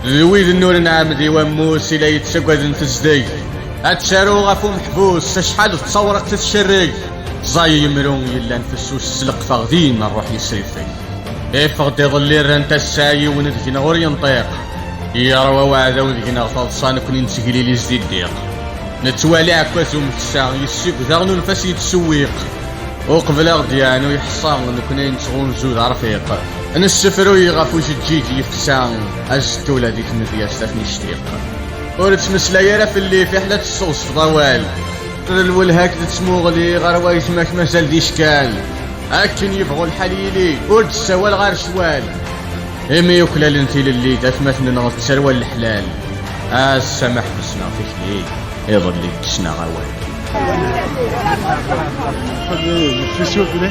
d wid n ur nɛemmed i wammus i la yettaggaden tezdeg ad taru ɣef umeḥbus acḥal d tawraɣt i tcerreg ẓẓay yemru yellan fessus s leqfeɣ din ṛṛuḥ yesrifeg iffeɣ-d iḍelli rrant ass-a yiwen deg-neɣ ur yenṭiq yeṛwa weɛdaw deg-neɣ taḍsa nekkni nettegliliz di ddiq nettwali ɛekkaz umeksa yessib daɣen unef-as yettṣewwiq uqbel aɣ-d-yeɛnu yeḥṣa nekkni nettɣunzu d arfiq Nessefruy ɣef ujeǧǧiǧ yefsa azzettula di tmedyazt ad ten-ictiq. Ur ttmeslay ara fell-i fiḥel ad tesseɣzfeḍ awal. D lwelha-k d tmuɣli ɣer wayetma-k mazal d icekal. Akken yebɣu lḥal yili ur d-ssawal ɣer ccwal. Imi yuklalen tilelli d atmaten-nneɣ d tarwa n leḥlal. Ass-a ma ḥbesneɣ tikli, iḍelli kksen-aɣ awal. Xdem, fis-u fell-i.